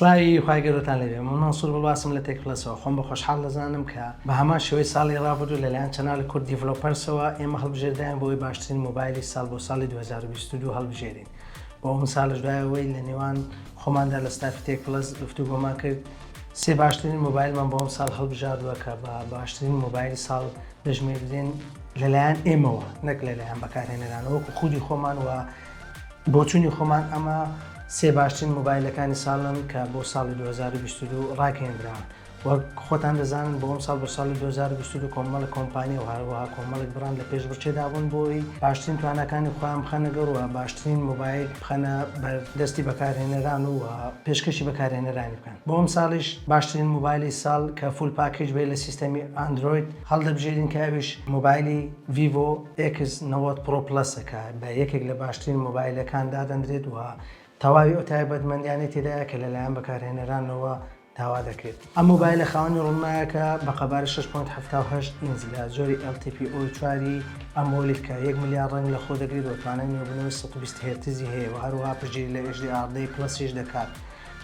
سڵاوی خوای گەورەتان لێبێ من مەنسور بڵواسم لە تێک پلەسەوە خۆم بە خۆشحاڵ دەزانم کە بە هەمان شێوەی ساڵی ڕابردوو لەلایەن چەنال کورد دیڤلۆپەرسەوە ئێمە هەڵبژێردراین بۆ ئەوی باشترین مۆبایلی ساڵ بۆ ساڵی 2022 هەڵبژێرین بۆ ئەو مسالش دایەوەی لە نێوان خۆماندا لە ستافی تێک پلەس گفتوگۆمان کرد سێ باشترین مۆبایلمان بۆ ئەم ساڵ هەڵبژاردووە کە بە باشترین مۆبایلی ساڵ دەژمێردرێن لەلایەن ئێمەوە نەک لەلایەن بەکارهێنەرانەوەکو خودی خۆمان و بۆچوونی خۆمان ئەمە سێ باشترین مۆبایلەکانی ساڵن کە بۆ ساڵی 2022 ڕاگەێنرا وەک خۆتان دەزانن بۆ ئەمساڵ بۆ ساڵی دوو هەزار و بیست و دوو کۆمەڵێک کۆمپانیا و هەروەها کۆمەڵێک بڕاند لە پێشبڕکێدا بوون بۆ ئەوەی باشترین تواناکانی خۆیان بخەنە گەڕ و باشترین مۆبایل بخەنە بەر دەستی بەکارهێنەران و پێشکەشی بەکارهێنەرانی بکەن بۆ ئەمساڵیش باشترین مۆبایلی ساڵ کە فول پاکەیج بێت لە سیستەمی ئاندرۆید هەڵدەبژێرین کە ئەویش مۆبایلی ڤیڤۆ ئێکس نەوەد پڕۆ پڵەسە کە بە یەکێک لە باشترین مۆبایلەکان دادەنرێت و تەواوی ئەو تایبەتمەندیانەی تێدایە کە لەلایەن بەکارهێنەرانەوە داوا دەکرێت. ئەم مۆبایلە خاوەنی ڕوونمایەکە بە قەبارە شەش پۆینت حەفتا و هەشت ئینج لە جۆری LTPO چوار ی ئەمۆلید کە یەک ملیار ڕەنگ لەخۆ دەگرێت و توانای نوێبوونەوەی سەد و بیست هێرتزی هەیە و هەروەها پشتگیری لە HDR دە پلەس یش دەکات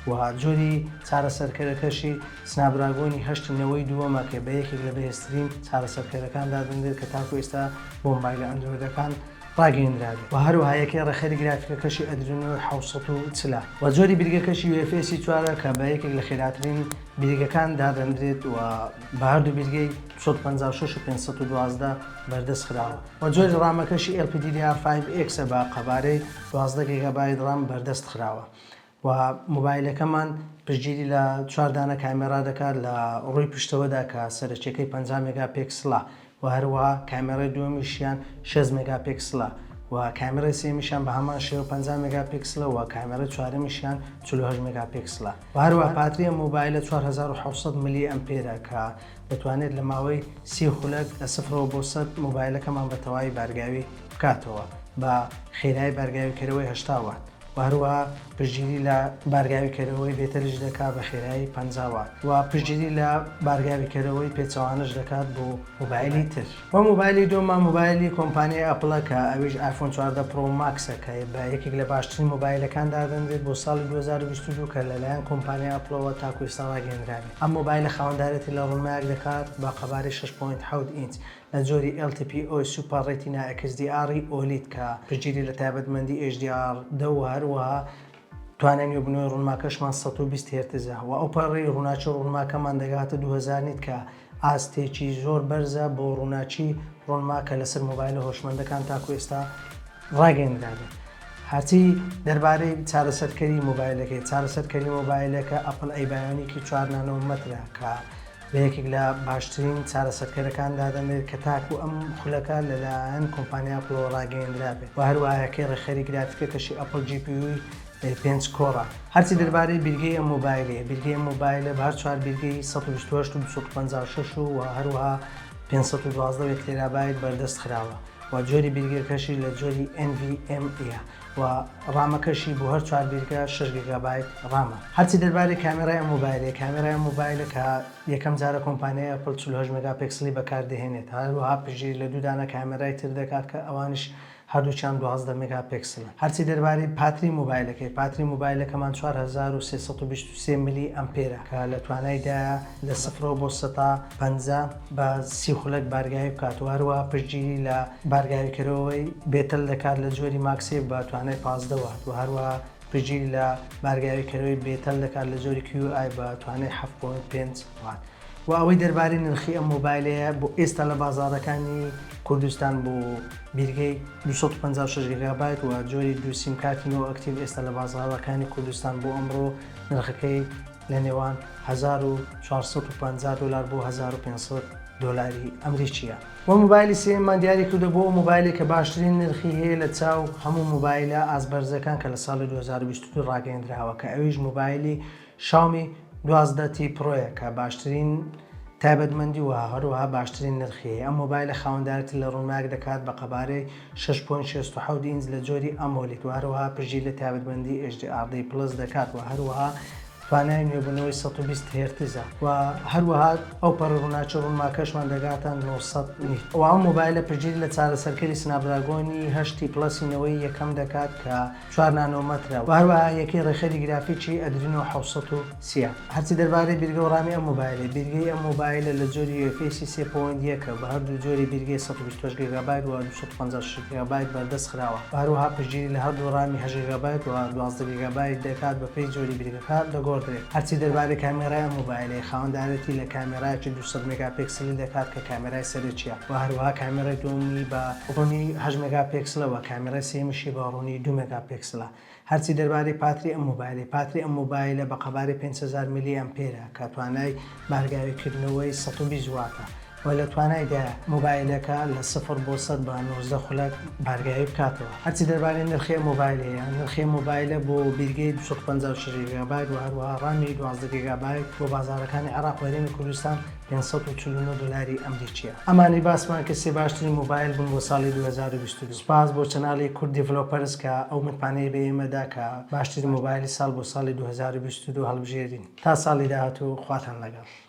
و جۆری چارەسەرکەرەکەشی سناپدراگۆنی هەشت نەوەی دووەمە کە بە یەکێک لە بەهێزترین چارەسەرکەرەکان دادەنرێت کە تاکو ئێستا بۆ مۆبایلە ئەندرۆیدەکان ڕاگەیەندراوی و هەروەها یەکەی ڕێکخەری گرافیکەکەشی ئەدرینۆ حەوت سەد و چل ە و جۆری بیرگەکەشی یو ئێف ئێس ی چوار ە کە بە یەکێک لە خێراترین بیرگەکان دادەنرێت و بە هەردوو بیرگەی دوو سەد و پەنجا و شەش و پێنج سەد و دوازدە بەردەست خراوە و جۆری ڕامەکەشی ئێڵ پی دی دی ئار فایڤ ئێکس ە بە قەبارەی دوازدە گێگابایت ڕام بەردەست خراوە وە مۆبایلەکەمان پشتگیری لە چوار دانە کامێرا دەکات لە ڕووی پشتەوەدا کە سەرەکیەکەی پەنجا مێگا پێکسڵە وە هەروەها کامێرای دووەمیشیان شێست مێگا پێکسڵە وە کامێرای سێیەمیشیان بە هەمان شێوە پەنجا مێگا پێکسڵە وە کامێرای چوارەمیشیان چل و هەشت مێگا پێکسڵە وە هەروەها باتری ئەم مۆبایلە چوار هەزار و حەوت سەد ملی ئەمپێرە کە دەتوانێت لە ماوەی سی خولەک لە سفرەوە بۆ سەد مۆبایلەکەمان بە تەواوی بارگاوی بکاتەوە بە خێرایی بارگاویکەرەوەی هەشتا وات. و هەروەها پشتگیری لە بارگاوی کەرەوەی بێتەلیش دەکات بە خێرایی پەنجا وات و پشتگیری لە بارگاوی کەرەوەی پێچەوانەش دەکات بۆ مۆبایلی تر. و مۆبایلی دووەمە مۆبایلی کۆمپانیای ئەپڵە کە ئەویش ئایفۆن چواردە پڕۆ ماکسە کە بە یەکێک لە باشترین مۆبایلەکان دادەنرێت بۆ ساڵی دوو هەزار و بیست و دوو کە لەلایەن کۆمپانیای ئەپڵەوە تاکو ئێستا ڕاگەیەندرابێت ئەم مۆبایلە خاوەندارێتی لە ڕوونمایەک دەکات بە قەبارەی شەش پۆینت حەوت ئینچ لە جۆری ئێڵ تی پی ئۆی سوپەر ڕێتینا ئێکس دی ئاڕی ئۆلید کە پشتگیری لە تایبەتمەندی ئێچ دی ئاڕ دە و هەروەها توانای نوێبوونەوەی ڕوونماکەشمان سەد و بیست هێرتزە و ئەو پەڕی ڕووناکی ڕوونماکەمان دەگاتە دوو هەزار نیت کە ئاستێکی زۆر بەرزە بۆ ڕووناکی ڕوونما کە لەسەر مۆبایلە هۆشمەندەکان تاکوو ئێستا ڕاگەیەندرابێت. هەرچی دەربارەی چارەسەرکەری مۆبایلەکەی، چارەسەرکەری مۆبایلەکە ئەپڵ ئەی بایۆنیکی چوار نانۆ مەترە کە بە یەکێک لە باشترین چارەسەرکەرەکان دادەنرێت کە تاکوو ئەم خولەکە لەلایەن کۆمپانیا ئەپڵەوە ڕاگەیێندرا بێت و هەروەها یەکەی ڕێکخەری گرافیکەکەشی ئەپڵ جی پی یووی ئەی پێنج کۆرە. هەرچی دەربارەی بیرگەی ئەم مۆبایلەیە، بیرگەی ئەم مۆبایلە بە هەر چوار بیرگەی سەد و بیست و هەشت و دوو سەد و پەنجا و شەش و و هەروەها پێنج سەد و دوازدە و یەک تێرابایت بەردەست خراوە و جۆری بیرگەکەشی لە جۆری ئێن ڤی ئێم ە. و ڕامەکەشی بۆ هەر چوار بیرگە شەش گیگابایت ڕامە هەرچی دەربارەی کامێرای ئەم مۆبایلەیە کامێرای ئەم مۆبایلە کە یەکەم جارە کۆمپانیای ئەپڵ چل و هەشت مێگاپێکسڵی بەکاردەهێنێت هەروەها پشتگیری لە دوو دانە کامێرای تر دەکات کە ئەوانیش هەردووکیان دوازدە مێگاپێکسڵن هەرچی دەربارەی پاتری مۆبایلەکەی پاتری مۆبایلەکەمان چوار هەزار و سێ سەد و بیست و سێ ملی ئەمپێرە کە لە توانایدایە لە سفرەوە بۆ سەتا پەنجا بە سی خولەک بارگایی بکات و هەروەها پشتگیری لە بارگاوی کەرەوەی بێتەل دەکات لە جۆری ماکس یەک بە توانای پازدە وات و هەروەها پژیل لە بارگاوی کەرەوەی بێتەل دەکات لە جۆری کیو ئای بە توانای حەفت پۆینت پێنج وات. وە ئەوەی دەربارەی نرخی ئەم مۆبایلەیە بۆ ئێستا لە بازاڕەکانی کوردستان بۆ بیرگەی دوو سەد و پەنجا و شەش گیگابایت وە جۆری دوو سیم کارتی نۆ ئەکتیڤ ئێستا لە بازاڕەکانی کوردستان بۆ ئەمڕۆ نرخەکەی لە نێوان هەزار و چوار سەد و پەنجا دۆلار بۆ هەزار و پێنج سەد دۆلاری ئەمریکییە. وە مۆبایلی سێیەممان دیاری کردووە بۆ ئەو مۆبایلەی کە باشترین نرخی هەیە لە چاو هەموو مۆبایلە ئاست بەرزەکان کە لە ساڵی دوو هەزار و بیست و دوو ڕاگەیەندراوە کە ئەویش مۆبایلی شاومی دوازدە تی پرۆیە کە باشترین تایبەتمەندی و هەروەها باشترین نرخی هەیە ئەم مۆبایلە خاوەندارێتی لە ڕووناک دەکات بە قەبارەی شەش پۆینت شەست و حەوت ئینج لە جۆری ئەمۆلید و هەروەها پشتگیری لە تایبەتمەندی HDRD Plus دەکات و هەروەها توانای نوێبوونەوەی سەد و بیست هێرتزە و هەروەها ئەو پەڕی ڕووناکی ڕوونماکەشمان دەگاتە نۆ سەد نیت و ئەم مۆبایلە پشتگیری لە چارەسەرکەری سناپدراگۆنی هەشت تی پڵەسی نەوەی یەکەم دەکات کە چوار نانۆ مەترە و هەروەها یەکەی ڕێکخەری گرافیکی ئەدرینۆ حەوت سەد و سی ە. هەرچی دەربارەی بیرگە و ڕامی ئەم مۆبایلەی، بیرگەی ئەم مۆبایلە لە جۆری یو ئێف ئێسی سێ پۆینت یەک ە و هەردوو جۆری بیرگەی سەد و بیست و هەشت گێگابایت و دوو سەد و پەنجا و شەش گێگابایت بەردەست خراوە و هەروەها پشتگیری لە هەردوو ڕامی هەشت گێگابایت و دوازدە گێگابایت دەکات بەپێی جۆری بیرگەکە. کات دەگۆڕدرێت. هەرچی دەربارەی کامێرای ئەم مۆبایلەیە، خاوەندارێتی لە کامێرایەکی دوو سەد مێگا پێکسلی دەکات کە کامێرای سەرەکییە و هەروەها کامێرای دووەمی بە ڕوونی هەشت مێگا پێکسلە و کامێرای سێیەمیشی بە ڕوونی دوو مێگا پێکسلە. هەرچی دەربارەی پاتری ئەم مۆبایلەی، پاتری ئەم مۆبایلە بە قەبارەی پێنج هەزار میلی ئەمپێرە کە توانای بارگاویکردنەوەی سەد و بیست واتە. و لە توانایدایە مۆبایلەکە لە سفر بۆ سەد بە نۆزدە خولەک بارگایی بکاتەوە. هەرچی دەربارەی نرخی ئەم مۆبایلەیە، نرخی ئەم مۆبایلە بۆ بیرگەی دوو سەد و پەنجا و شەش گیگابایت و هەروەها ڕامی دوازدە گیگابایت بۆ بازاڕەکانی عێراق و هەرێمی کوردستان پێنج سەد و چل و نۆ دۆلاری ئەمریکییە. ئەمانەی باسمان کرد سێ باشترین مۆبایل بوون بۆ ساڵی دوو هەزار و بیست و دوو. سوپاس بۆ چەناڵی کورد دیڤلۆپەرز کە ئەو متمانەی بە ئێمە دا کە باشترین مۆبایلی ساڵ بۆ ساڵی دوو هەزار و بیست و دوو هەڵبژێرین. تا ساڵی داهاتوو خواتان لەگەڵ.